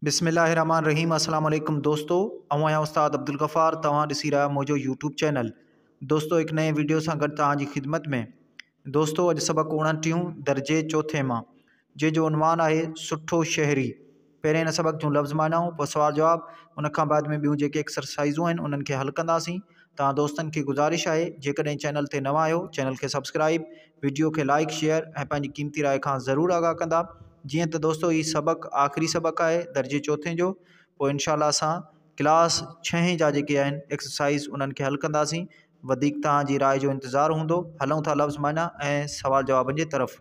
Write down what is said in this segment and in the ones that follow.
بسم الله الرحمٰن الرحيم السلام عليڪم دوستو آئون آهيان استاد عبدالغفار توهان ڏسي رهيا آهيو منهنجو يوٽيوب چينل دوستو هڪ نئين ويڊيو سان گڏ توهان جي خدمت ۾ دوستو اڄ سبق اوڻٽيهون درجي چوٿين مان جنهن جو عنوان آهي سٺو شهري پهرين هن سبق جون لفظ معنائون پوء سوال جواب ان کان بعد ۾ ٻيون جيڪي ايڪسرسائزون آهن انهن کي حل ڪنداسين تان دوستن کي گذارش آهي جيڪڏهن چينل تي نوان آهيو چينل کي سبسڪرائب وڊيو کي لائيڪ شيئر ۽ پنهنجي قيمتي راء کان ضرور آگاهه ڪندا جيئن ته دوستو هي سبق آخري سبق آهي درجي چوٿين جو پوء انشاء الله اسان ڪلاس ڇهين جا جيڪي آهن ايڪسرسائز انهن کي حل ڪنداسين وڌيڪ توهان جي راء جو انتظار هوندو هلون ٿا لفظ معنيٰ ۽ سوال جوابن جي طرف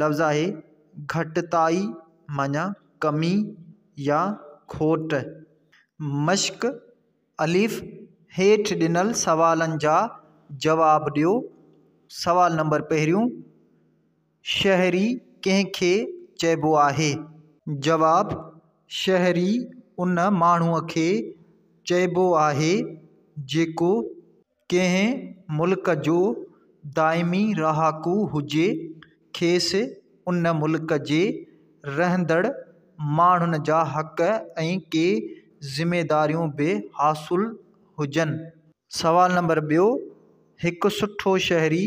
لفظ آهي گهٽتائي معنيٰ ڪمي يا کوٽ. مشق، الف، هيٺ ڏنل سوالن جا جواب ڏيو. سوال نمبر پهريون، شهري ڪنهن کي چئبو آهي؟ جواب، شهري ان ماڻهوء کي چئبو آهي جيڪو ڪنهن ملڪ جو دائمي رهاڪو هجي کيس ان ملڪ جي رهندڙ ماڻهن جا حق ۽ ڪي ذميداريون به حاصل هجن سوال نمبر ٻيو هڪ سٺو شهري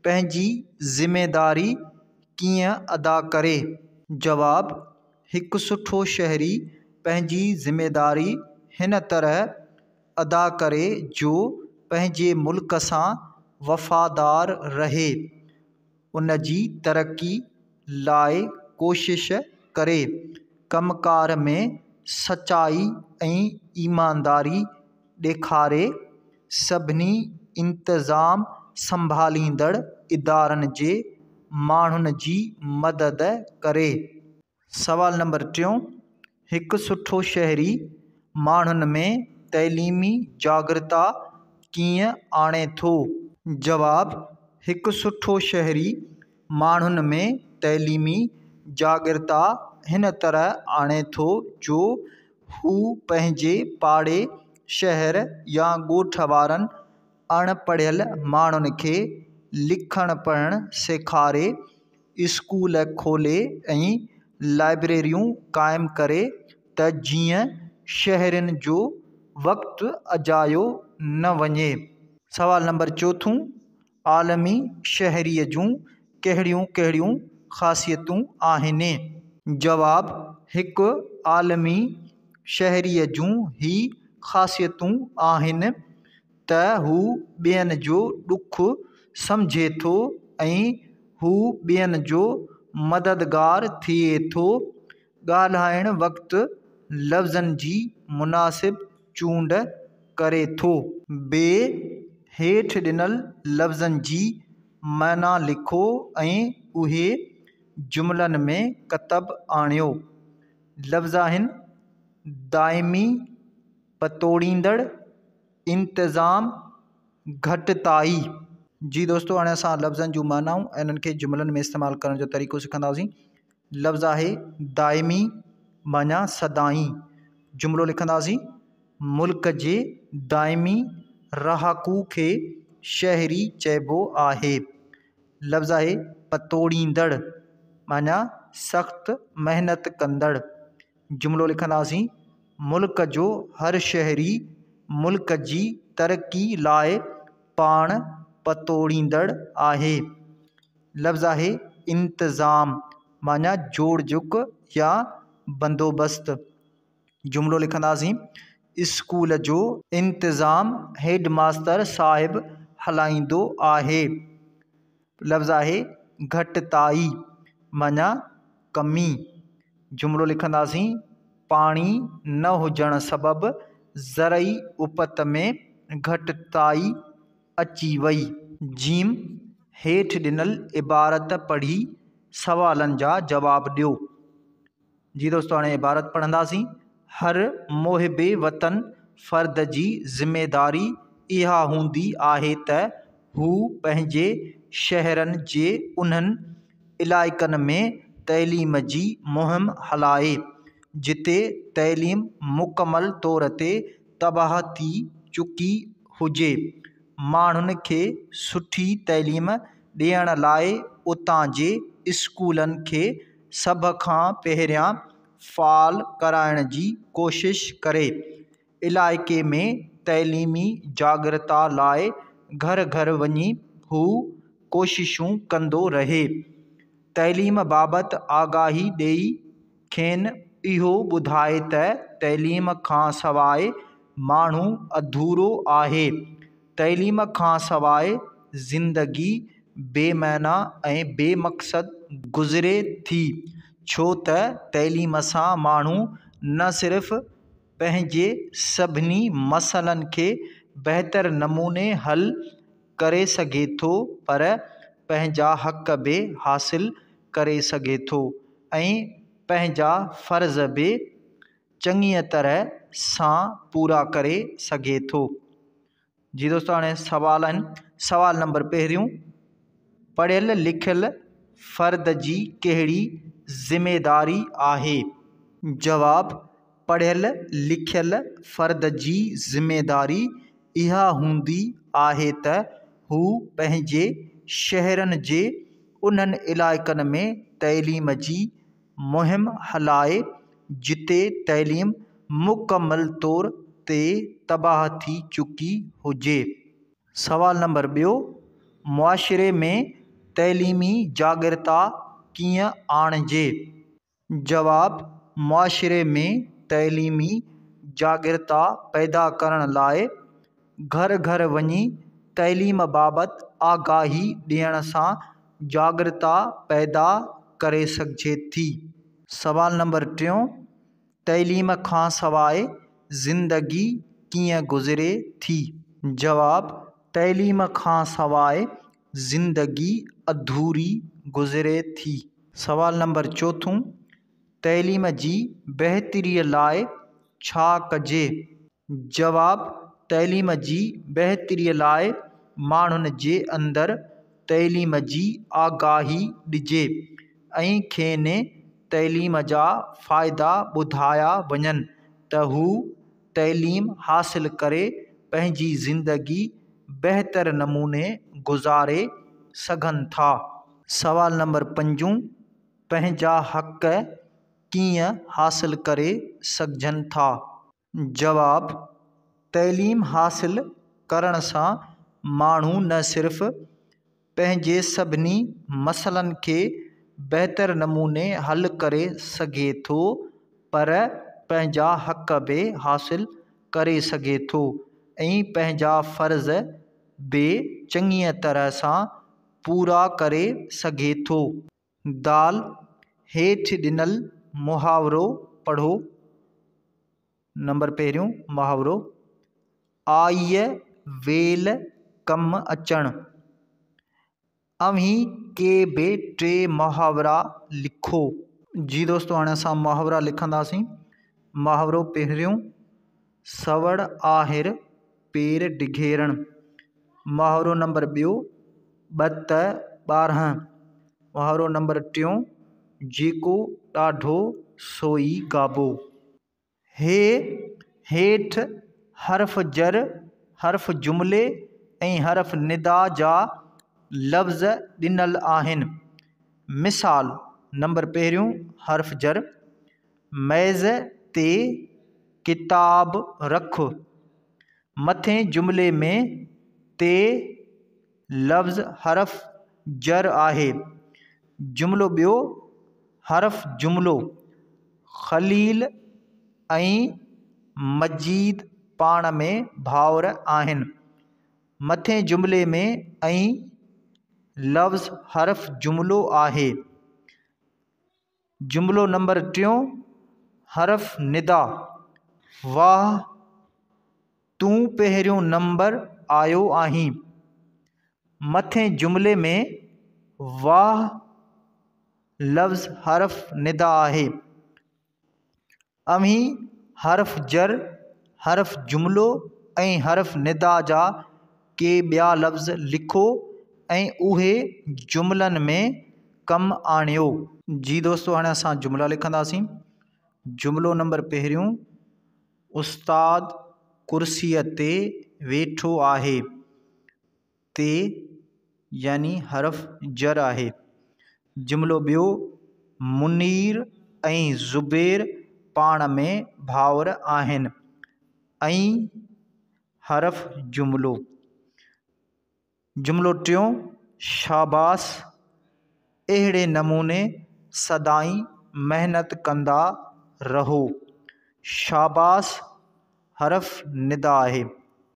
پنهنجي ذميداري ڪيئن ادا ڪري؟ جواب، هڪ سٺو شهري پنهنجي ذميداري هن طرح ادا ڪري جو پنهنجي ملڪ سان وفادار رهي، ان جي ترقي لاء ڪوشش ڪري، ڪم ڪار ۾ سچائي ۽ ايمانداري ڏيکاري سڀني انتظام سنڀاليندڙ ادارن جي ماڻهن جي مدد ڪري. سوال نمبر ٽيون، هڪ سٺو شهري ماڻهن ۾ تعليمي جاڳرتا ڪيئن آڻي ٿو؟ جواب، هڪ سٺو شهري ماڻهن ۾ تعليمي جاڳرتا هن طرح آڻي ٿو جو هو پنهنجي پاڙي، شهر يا ڳوٺ وارن اڻ پڙهيل ماڻهن کي لکڻ پڙهڻ سيکاري، اسڪول کولي ۽ لائبريريون قائم ڪري ته جيئن شهرين جو وقت اجايو نه وڃي. سوال نمبر چوٿون. عالمي شهريء جون ڪهڙيون ڪهڙيون خاصيتون آهن؟ جواب، هڪ عالمي شهريء جون هي خاصيتون آهن ته هو ٻين جو ڏک سمجهي ٿو ۽ هو ٻين جو مددگار ٿئي ٿو. ڳالهائڻ وقت لفظن جي مناسب چونڊ ڪري ٿو. ب، هيٺ ڏنل لفظن جي معنيٰ لکو ۽ اهي جملن ۾ ڪتب آڻيو. لفظآهن، دائمي، پتوڙيندڙ، انتظام، گهٽتائي. جي دوستو هاڻي اسان لفظن جون معنائون ۽ انهن کي جملن ۾ استعمال ڪرڻ جو طريقو سکنداسين. لفظ آهي دائمي معنيٰ سدائين جملو لکنداسين، ملڪ جي دائمي رهاڪو کي شهري چئبو آهي. لفظ آهي پتوڙيندڙ معنيٰ سخت محنت ڪندڙ جملو لکنداسين، ملڪ جو هر شهري ملڪ جي ترقي لاء پاڻ پتوڙيندڙ آهي. لفظ آهي انتظام معنيٰ جوڙ جڪ يا بندوبست. جملو لکنداسين، اسڪول جو انتظام هيڊ ماستر صاحب هلائيندو آهي. لفظ آهي گهٽتائي معنيٰ ڪمي. جملو لکنداسين، پاڻي نه هجڻ سبب زرعي اپت ۾ گهٽتائي. اچي وئي. جيم، هيٺ ڏنل عبارت پڙهي سوالن جا جواب ڏيو. جي دوستو هاڻي عبارت پڙهنداسين، هر محب وطن فرد جي ذميداري اها هوندي آهي ته هو پنهنجي شهرن جي انهن علائقن ۾ تعليم جي مهم هلائي جتي تعليم مڪمل طور تي تباهه ٿي چڪي هجي، ماڻهن کي سٺي تعليم ڏيڻ لاء اتان جي اسڪولن کي سڀ کان پهريان فعال ڪرائڻ جي ڪوشش ڪري، علائقي ۾ تعليمي جاڳرتا لاء گهر گهر وڃي هو ڪوششون ڪندو رهي، تعليم بابت آگاهي ڏئي کين اهو ٻڌائي ته تعليم کان سواء ماڻهو اڌورو آهي، تعليم کان سواء زندگي بي معنيٰ ۽ بي مقصد گذري ٿي، ڇو ته تعليم سان ماڻهو نه صرف پنهنجي سڀني مسئلن کي بهتر نموني حل ڪري سگهي ٿو پر پنهنجا حق به حاصل ڪري سگهي ٿو ۽ پنهنجا فرض به چڱيء طرح سان پورا ڪري سگهي ٿو. جي دوستو هاڻي سوال آهن سوال نمبر پهريون پڙهيل لکيل فرد جي ڪهڙي ذميداري آهي؟ جواب، پڙهيل لکيل فرد جي ذميداري اها هوندي آهي ته هو پنهنجي شهرن جي انهن علائقن ۾ تعليم جي مهم هلائي جتي تعليم مڪمل طور تي تباهه ٿي چڪي هجي. سوال نمبر ٻيو، معاشري ۾ تعليمي جاڳرتا ڪيئن آڻجي؟ جواب، معاشري ۾ تعليمي جاڳرتا پيدا ڪرڻ لاء گهر گهر وڃي تعليم بابت آگاهي ڏيڻ سان جاڳرتا پيدا ڪري سگهجي ٿي. سوال نمبر ٽيون، تعليم کان سواء زندگي ڪيئن گذري ٿي؟ جواب، تعليم کان سواء زندگي اڌوري گذري ٿي. سوال نمبر چوٿون، تعليم جي بهتري لاء ڇا ڪجي؟ جواب، تعليم جي بهتري لاء ماڻهن جي اندر تعليم جي آگاهي ڏجي ۽ کين تعليم جا فائدا ٻڌايا وڃن ته هو تعليم حاصل ڪري پنهنجي زندگي بهتر نموني گذاري سگهن ٿا. سوال نمبر پنجون، پنهنجا حق ڪيئن حاصل ڪري سگهجن ٿا؟ جواب، تعليم حاصل ڪرڻ سان ماڻهو نه صرف پنهنجي سڀني مسئلن کي بهتر نموني حل ڪري سگهي ٿو پر پنهنجا حق به حاصل ڪري سگهي ٿو ۽ پنهنجا فرض به چڱيء طرح سان پورا ڪري سگهي ٿو. دال، هيٺ ڏنل محاورو پڙهو، نمبر پهريون محاورو، آئيء ويل ڪم اچڻ. اوهين ڪي به ٽي محاورا لکو. جي دوستو هاڻي اسان محاورا لکنداسين. محاورو پهريون. سوڙ آهر پير ڊگهيرڻ. محاورو نمبر ٻيو، ٻت ٻارهن. محاورو نمبر ٽيون، جيڪو ڏاڍو سوئي گابو. هي هيٺ حرف جر، حرف جملي ۽ حرف ندا جا لفظ ڏنل آهن. مثال، نمبر پهريون، حرف جر، ميز تي ڪتاب رک. مٿين جملي ۾ تي لفظ حرف جر آهي. جملو ٻيو حرف جملو خليل ۽ مجيد پاڻ ۾ ڀائر آهن. مٿين جملي ۾ ۽ لفظ حرف جملو آهي. جملو نمبر ٽيون حرف ندا، واهه تون پهريون نمبر آيو آهين. مٿين جملي ۾ واهه لفظ حرف ندا آهي. اوهين حرف جر، حرف جملو ۽ حرف ندا جا ڪي ٻيا لفظ لکو ۽ اهي جملن ۾ ڪم آڻيو. جي دوستو هاڻي اسان جملا لکنداسين. جملو نمبر پهريون، استاد ڪرسيء تي ويٺو آهي. تي يعني حرف جر آهي. جملو ٻيو، منير ۽ زبير پاڻ ۾ ڀائر آهن. ۽ حرف جملو. جملو ٽيون، شاباس! اهڙي نموني سدائين محنت ڪندا رهو. شاباس حرف ندا آهي.